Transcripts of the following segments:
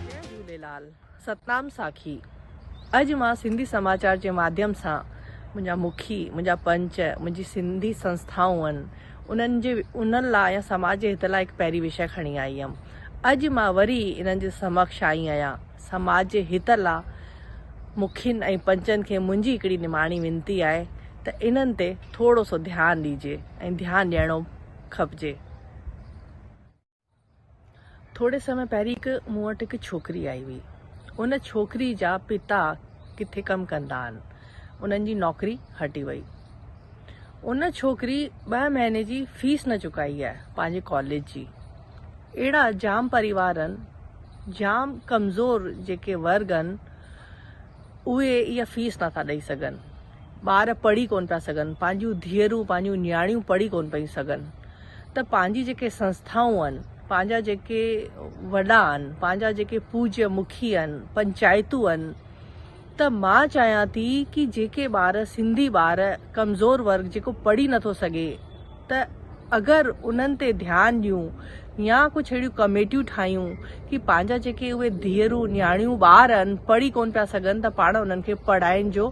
جي جهوليلال ستنام ساکي اڄ مان سنڌي سماچار جي ماڌيم سان منهنجا مکي منهنجا پنچ منهنجي سنڌي سنسٿائون انهن جي انهن لاء يا سماج جي هت لاء هڪ پهري وشي کڻي آئي هيم اڄ مان وري انهن جي سمڪش آئي آهيان. سماج جي هت لا مکين ۽ پنچن کي منهنجي هڪڙي نماڻي وينتي آهي ته انهن تي ٿورو سو ڌيان ڏيجي ۽ ڌيان ڏيڻو کپجي. ٿوري سمي پهرين هڪ مون وٽ هڪ ڇوڪري آئي هئي. ان ڇوڪري جا پتا ڪٿي ڪم ڪندا آهن. انهن جي نوڪري هٽي وئي. ان ڇوڪري ٻه مهيني جي فيس نه چڪائي آهي پنهنجي ڪاليج جي اهڙا جام پريوار آهن جام ڪمزور جيڪي ورگ آهن اهي اها فيس نٿا ڏئي سگهن ٻار پڙهي ڪون پيا سگهن پنهنجون ڌيئرون پنهنجون نياڻيون پڙهي ڪون پيون سگهن ته پنهنجي جيڪي سنسٿائون آهن پنهنجا جيڪي وڏا آهن پنهنجا جيڪي پوجيا مکي آهن پنچائتون آهن ته مان چاهيان ٿي ڪي جيڪي ٻار سنڌي ٻار ڪمزور ورگ جيڪو پڙهي نٿو سگهي ته اگر انهن تي ڌيان ڏيون يا ڪجهه اهڙيون ڪميٽيون ٺاهيون ڪي پنهنجا جيڪي اهي ڌيئرون نياڻيون ٻار ان پڙهي ڪون پيا سگهن ته پاڻ انهن کي پڙهائين جو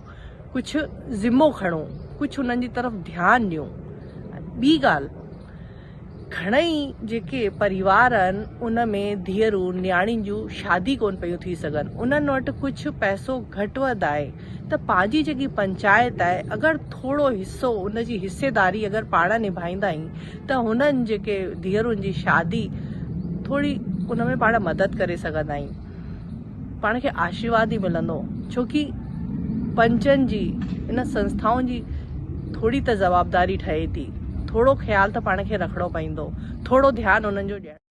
ڪجهه ذمو کڻون ڪجهه انهن جي طرف ڌيان ڏيون ٻي ڳالهه گهڻئي جيڪي پريوار آهن ان ۾ ڌيئرون نياڻين جون شادي ڪون پيون ٿي سگهن انهن وٽ ڪجهه پئسو گهٽ وڌ آهي ته پنهنجي جيڪي پنچائت آهي اگر ٿورو حصو ان جي حصيداري اگر پاڻ نڀائيندائين ته هنن جيڪي ڌيئرن جي شادي ٿوري ان ۾ پاڻ مدد ڪري سگهندائين. پاڻ کي آشيرواد ئي ملندو ڇو ڪي پنچن جي ان سنسٿائن جي ٿوري ته جوابداري ٺهي ٿي ٿورو خيال ته پاڻ کي رکڻو پوندو ٿورو ڌيان انهن جو ڏيڻ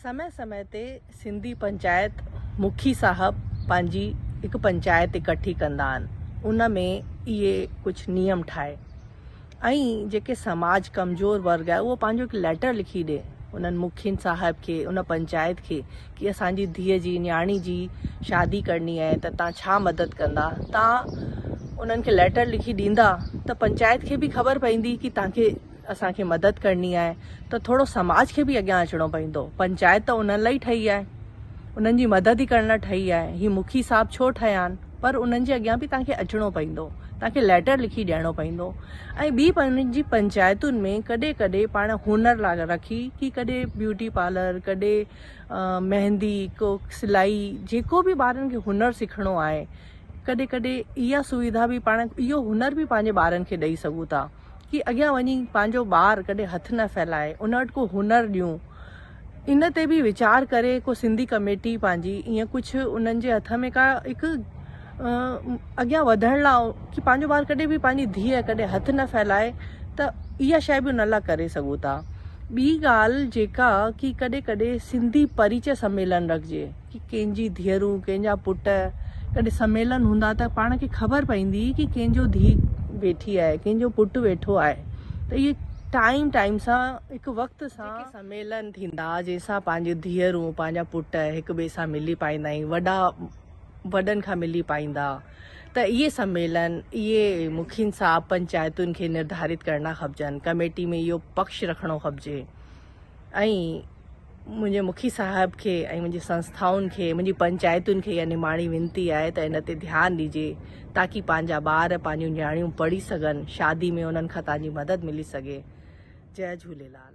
سمي سمي تي سنڌي پنچائت مکي صاحب پنهنجي هڪ پنچائت اڪٺي ڪندا آهن ان ۾ اهي ڪجهه نيم ٺاهي. ۽ جيڪي سماج ڪمزور ورگ آهي اهو پنهنجو هڪ ليٽر لکي ڏي انهن مکين صاحب کي ان پنچائت کي ڪي اسان جي ڌيء جي نياڻي جي شادي ڪرڻي آهي ته تان ڇا مدد ڪندا تان انهن کي ليٽر لکي ڏيندا ته پنچائت کي به خبر پوندي ڪي تان کي اسان کي مدد ڪرڻي آهي ته ٿورو سماج کي به اڳيان اچڻو پوندو پنچائت ته انهن لاء ئي ٺهي آهي انهن جي مدد ئي ڪرڻ لاء ٺهي آهي هي مکي صاحب ڇو ٺهيا آهن پر انهن جي اڳيان به توهان کي اچڻو پوندو توهان کي ليٽر لکي ڏيڻو پوندو ۽ ٻي پنهنجي جي پنچائتن ۾ ڪڏهن ڪڏهن پاڻ هنر لاء رکي ڪي ڪڏهن بيوٽي پارلر ڪڏهن مهندي ڪو سلائي جيڪو به ٻارن کي هنر سکڻو آهي ڪڏهن ڪڏهن اها سويڌا به پاڻ اهو هنر به پنهنجي ٻارن کي ڏئي سگهون ٿا ڪي اڳيان وڃي پنهنجو ٻار ڪڏهن هٿ نه ڦهلائي ان وٽ ڪو هنر ڏيون ان تي به ويچار ڪري ڪو سنڌي ڪميٽي پنهنجي ايئن ڪجهه انهن جي هٿ ۾ ڪا هڪ اڳيان وڌڻ لاء ڪي پنهنجو ٻار ڪڏهن به پنهنجي ڌيء ڪڏهن هٿ نه ڦهلائي ته اها شيء به ان لاء ڪري سگهو ٿا ٻي ڳالهه جيڪا ڪي ڪڏهن ڪڏهن سنڌي پريچئه سميلن رکجي ڪي ڪنهن جي ڌيئرون ڪنهن جا پٽ ڪڏهن سميلن هوندا ته پاڻ کي خبر پوندي ڪي ڪنهن جو ڌيء ويٺي آهي ڪنهن جو پٽ ويٺو آهي ته اهي ٽائيم ٽائيم سان هڪ وقت سان سميلن ٿيندا، جنهن سان پنهنجون ڌيئرون، پنهنجا پٽ هڪ ٻئي سان ملي پائيندا ۽ وڏا وڏن کان ملي پائيندا ته اهي سميلن اهي مکين صاحب پنچائتن کي نرڌارت ڪرڻا کپجن، ڪميٽي ۾ اهو پڪش رکڻو کپجي ۽ منهنجي مکي صاحب کي ۽ منهنجي سنسٿائن کي، منهنجي پنچائتن کي اها نماڻي وينتي آهي ته ان تي ڌيان ڏجي. تاڪي پنهنجا ٻار پنهنجون نياڻيون پڙهي سگهن شادي ۾ انهن کان تهانجي مدد ملي سگهي جئ جهوليلال.